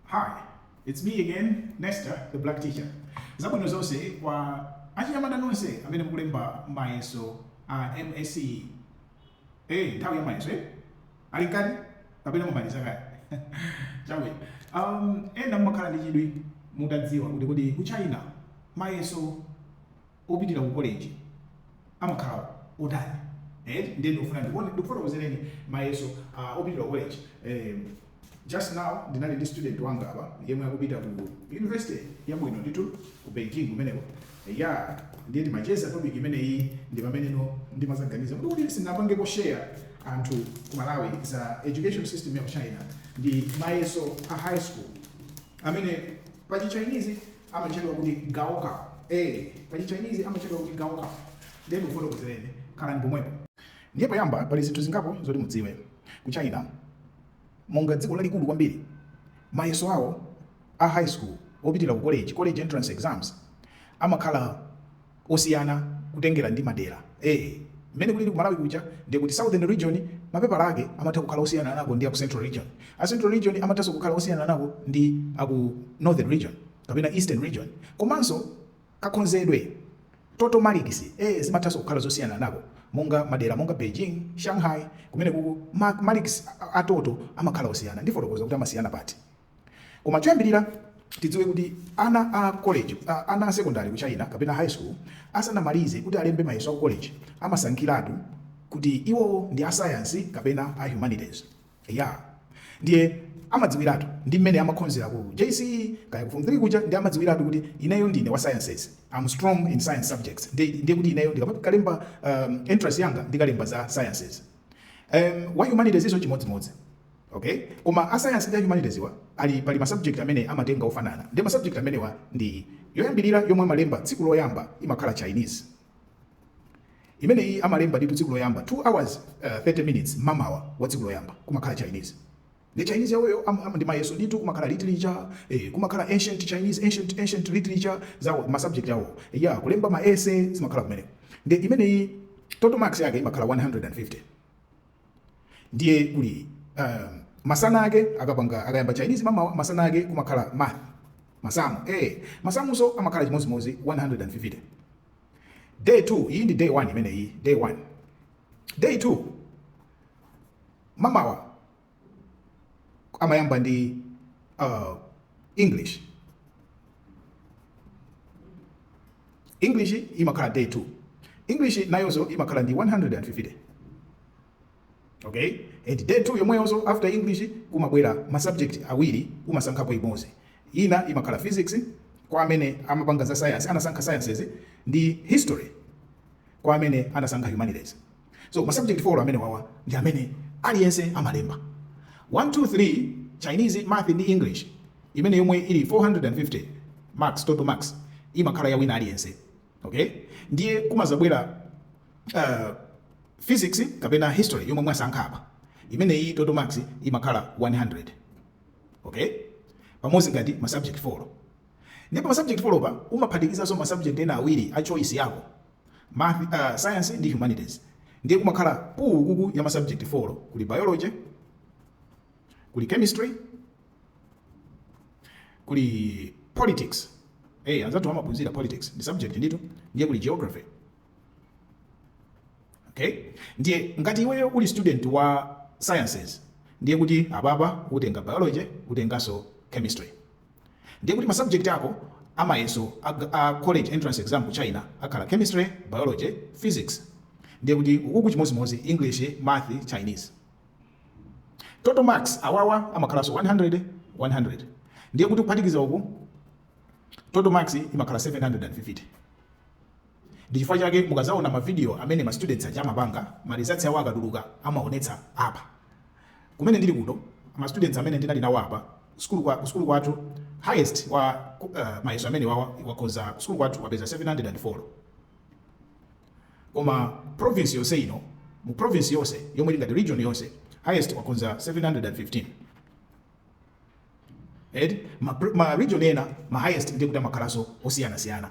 Hi, it's me again, Nesta, the black teacher. Zabwino zonse kwa achinyamata nonse amene mukulemba mayeso a MSCE. Eh, nthawi ya mayeso eh? Ali mkati kapena mwamaliza kale. Chawe. Um, ena mumakhala ndi chidwi mutadziwa kuti kuti ku China mayeso opitira ku koleji amakhala otani eti ndiye ndikufuna ndikuone- ndikufotokozereni mayeso ah, opitira ku koleji Em, just now ndinali ndi student wanga apa yemwe akupita ku university yabwino ndithu ku beijing kumeneko ya ndiye timacheza topic imeneyi ndi pamene ndinadzaganiza kuti kuti ndipangeko share anthu ku malawi za education system ya ku china ndi mayeso a high school amene pa chichinese amatchedwa kuti gaokao. Ee, pa Chichinese amatchedwa kuti gaokao. Ndiye ndikufotokozereni. Khalani pomwepo. Ndiye poyamba pali zinthu zingapo zoti mudziwe. Ku China, monga dziko lalikulu kwambiri, mayeso awo a high school opitira ku college, college entrance exams, amakhala. osiyana kutengera ndi madera ee mmene kulili ku Malawi kuja ndiye kuti southern region mapepala ake amatha kukhala osiyanako ndi aku central region a central region amathanso kukhala osiyanako ndi aku northern region kapena eastern region komanso kakonzedwe ka total marks ee zimathanso kukhala zosiyanako monga madera monga Beijing Shanghai kumene kuku marks a total amakhala osiyana ndifotokoza kuti amasiyana pati Koma choyambirira tidziwe kuti ana a koleji, a ana a sekondale ku China kapena high school asanamalize kuti alembe mayeso a ku koleji amasankhiratu kuti iwowo ndi a science kapena a humanities. Eya, ndiye amadziwiratu ndi mmene amakhozera ku JCE kaya ku form 3 kuja ndiye amadziwiratu kuti ineyo ndine wa sciences. I'm strong in science subjects. Ndiye ndiye kuti ineyo ndikamalemba um, entrance yanga ndikalemba za sciences. Um, wa humanities nso chimodzimodzi. Ok koma a science ndi a humanities wa pali ma subject amene amatenga ofanana nde ma subject amenewa ndi yoyambilira yomwe amalemba tsiku loyamba imakhala Chinese imeneyi amalemba ndithu tsiku loyamba 2 hours uh, 30 minutes mamawa wa tsiku loyamba kumakhala Chinese ndi Chinese yawoyo am- am- ndi mayeso ndithu kumakhala literature eh, kumakhala ancient Chinese ancient ancient literature zawo ma subject yawo a kulemba ma essay zimakhala kumeneko nde imeneyi total marks yake imakhala 150 ndiye kuli uh, masana ake akapanga akayamba chinese mamawa masana ake kumakhala math masamu eh masamunso amakhala chimodzimodzi 150 day 2 iyi ndi day 1 imeneyi day 1 day 2 mamawa amayamba ndi uh, english English imakhala day 2. English nayonso imakhala ndi 150 okay and day 2 yomweyonso after English kumabwera ma subject awiri umasankhapo imodzi. Ina imakhala physics kwa amene amapanga za science anasankha sciences ndi history kwa amene anasankha humanities. So ma subject 3 amenewawa ndi amene aliyense amalemba 1 2 3 Chinese, math ndi English imene yomwe ili 450 marks total marks imakhala ya wina aliyense. Okay? Ndiye kumazabwera uh, physics kapena history yomwe mwasankha apa imene iyi total marks imakhala 100 okay pamodzi ngati ma subject 4 ndipo ma subject 4 pa umaphatikizanso ma subject ena awiri a choice yako Ma science ndi Humanities ndiye kumakhala pool ukuku ya ma subject 4 kuli Biology, kuli Chemistry, kuli Politics. Eh, anzathu amaphunzira politics ndi subject ndithu ndiye kuli Geography. Okay? Ndiye ngati iweyo uli student wa sciences ndiye kuti apapa utenga biology utenganso chemistry ndiye kuti ma subject ako amayeso a, a college entrance exam ku china akhala chemistry biology physics ndiye kuti ukuku chimodzimodzi english math chinese total marks awawa amakhalanso 100 100 ndiye kuti kuphatikiza uku total marks imakhala 750 Ndi chifukwa chake mukadzaona ma video amene ma students aja amapanga, ma results awo akatuluka amaonetsa apa. Kumene ndili kuno, ma students amene ndinali nawo apa sukulu kwa ku sukulu kwathu highest wa mayeso amenewawa wakhoza ku sukulu kwathu wapeza 704. Koma province yonse ino, mu province yonse yomwe ili ngati region yonse, highest wakhoza 715. Eti ma, ma region ena ma highest ndiye kuti amakhalanso osiyana siyana.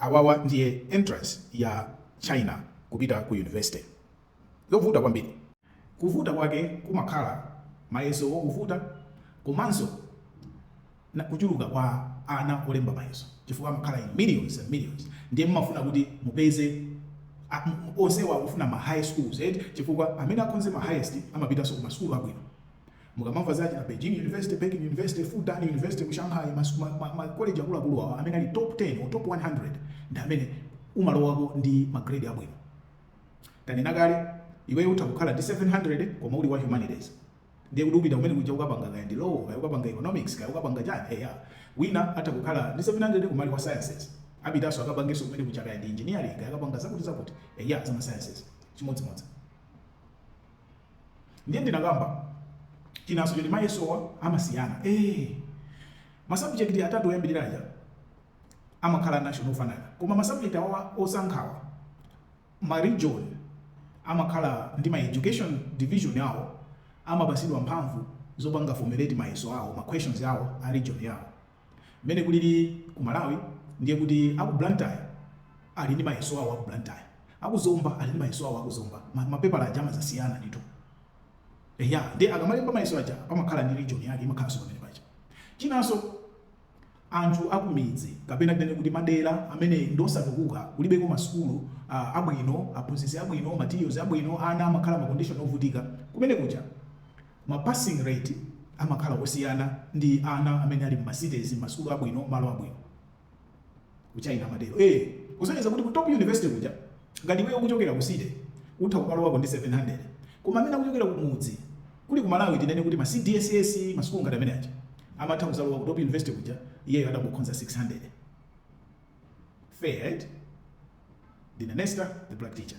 Awawa ndiye entrance ya China kupita ku university. Zovuta kwambiri. Kuvuta kwake kumakhala mayesowo kuvuta komanso kuchuluka kwa ana olemba mayeso chifukwa amakhala in millions and millions ndiye mumafuna kuti mupeze onsewo akufuna ma high scores eti chifukwa amene akhoze ma highest amapitanso ku masukulu abwino Mukamamva za achina Beijing University, Peking University, Fudan University ku Shanghai, ma, ma, ma college akuluakulu awa amene ali top 10 or top 100 ndi amene umalowako ndi ma grade abwino. Tanena kale iweyo utha kukhala ndi 700 koma uli wa humanities ndiye kuti upita kumene kuja ukapanga kaya ndi law kaya ukapanga economics kaya ukapanga chani eya wina atha kukhala ndi 700 koma ali wa sciences apitanso akapangenso kumene kuja kaya ndi engineering kaya akapanga zakuti zakuti eya zama sciences chimodzimodzi Ndiye ndinakamba chinanso choti mayesowa amasiyana. Eee! Masabujekiti atatu oyambirira aja amakhala a national ofanana. Koma masabujekiti awawa osankhawa, maregion amakhala ndi ma education division awo, amapatsidwa mphamvu zopanga formulate mayeso awo, ma questions awo a region yawo. Mmene kulili ku Malawi ndiye kuti aku Blantyre ali ndi mayeso awo aku Blantyre, aku Zomba ali ndi mayeso awo aku Zomba, ma ma pepala aja amazasiyana ndithu. Eya, ndiye akamalemba mayeso aja pamakhala ndi region yake imakhalanso pamene paja. Chinanso anthu akumidzi kapena tinene kuti madera amene ndi osatukuka kulibeko ma sukulu abwino, aphunzitsi abwino, materials abwino, ana amakhala ma condition ovutika, kumene kuja, Ma passing rate amakhala osiyana ndi ana amene ali mma cities, masukulu abwino, malo abwino. Ku China amatero. Eee! Kusonyeza kuti ku top university kuja ngati iweyo ukuchokera ku city utha kumalowako ndi 700 koma amene akuchokera kumudzi, kuli ku Malawi tinene kuti ma cdss, masukulu ngati amene aja, amatha kuzalowa ku top university kuja iyeyo atangokhonza 600. Fair eti? Ndine Nesta, the Black Teacher.